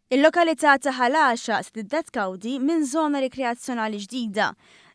Il-lokalità ta' Ħalaxa stiddet kawdi minn żona rikreazzjonali ġdida.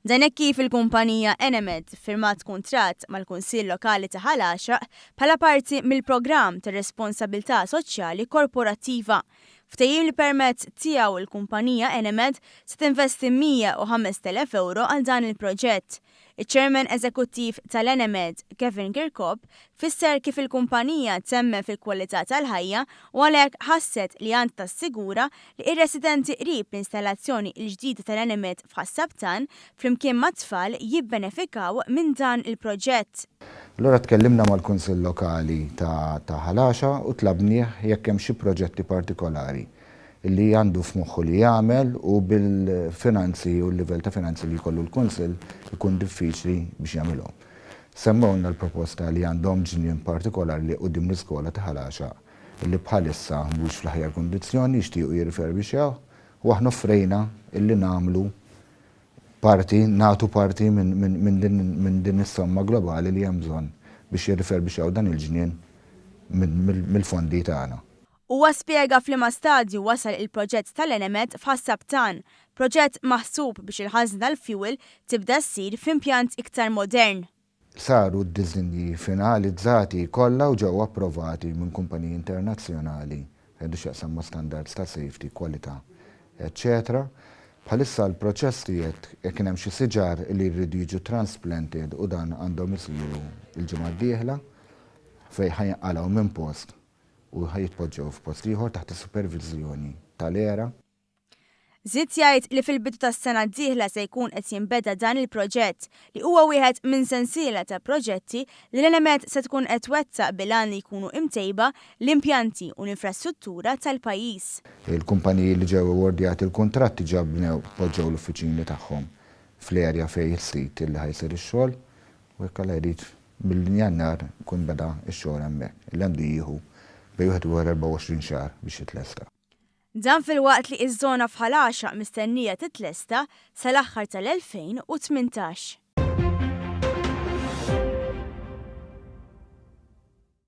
Dan hekk kif il-kumpanija Enemed firmat kuntratt mal-Kunsill Lokali ta' Ħalaxa bħala parti mill-programm ta' responsabilità soċjali korporattiva. Ftehim li permezz tiegħu l-kumpanija Enemed se tinvesti 105,000 ewro għal dan il-proġett. Iċ-Chairman Eżekuttiv tal-Enemed, Kevin Kirkop, fisser kif il-kumpanija temmen fil-kwalità tal-ħajja u għalhekk ħasset li għandha tassigura li r-residenti qrib l-installazzjoni l-ġdida tal-Enemed f'Ħas-Sabtan, flimkien mat-tfal jibbenefikaw minn dan il-proġett. Allura tkellimna mal-Kunsill Lokali ta' Ħal Għaxa u tlabnieh jekk hemm xi proġetti partikolari li għandu f'moħħu li jagħmel u bil-finanzi u l-livell ta' finanzi li jkollu l-Kunsill ikun diffiċli biex jagħmilhom. Semmewlna l-proposta li għandhom ġnien partikolari li quddiem l-iskola ta' Ħal Għaxaq li bħalissa mhux fl-aħjar kundizzjoni, jixtiequ jirriferbixxewh u aħna offrejna li nagħmlu parti, nagħtu parti minn din is-somma globali li hemm bżonn biex jirriferbixxew dan il-ġnien mill-fondi tagħna. Huwa spjega f'liema stadju wasal il-proġett tal-Enemed f'Ħassab Tan, proġett maħsub biex il-ħażna tal-fjuwil tibda ssir f'impjant iktar modern. Saru d-diżinji finalizzati kollha u ġew approvati minn kumpaniji internazzjonali għandu x'jaqsam ma' standards ta' safety, kwalità, eċċetera Bħalissa l-proċess qiegħed kien hemm xi siġar li jridu jiġu transplanted u dan għandhom isiru l-ġimgħa d-dieħla fejn ħa jinqalgħu minn post u ħa jitpoġġew f'post ieħor taħt is-superviżjoni tal-ERA. Żied jgħid li fil-bidu tas-sena d-dieħla se jkun qed jinbeda dan il-proġett, li huwa wieħed minn sensiela ta' proġetti li l-Enemed se tkun qed twettaq bil-għan li jkunu imtejba l-impjanti u l-infrastruttura tal-pajjiż. Il-kumpaniji li ġew iwardjati l-kuntratt diġà bnew, poġġew l-uffiċini tagħhom fl-area fejn is-sit li ħa jsir ix-xogħol u jekk Alla jrid Minn Jannar ikun beda x-xogħol hemmhekk, li għandu jieħu bejn 21-24 xahar biex jitlesta. Dan filwaqt li ż-żona f'Ħal Għaxaq mistennija titlesta sal-aħħar tal-2018.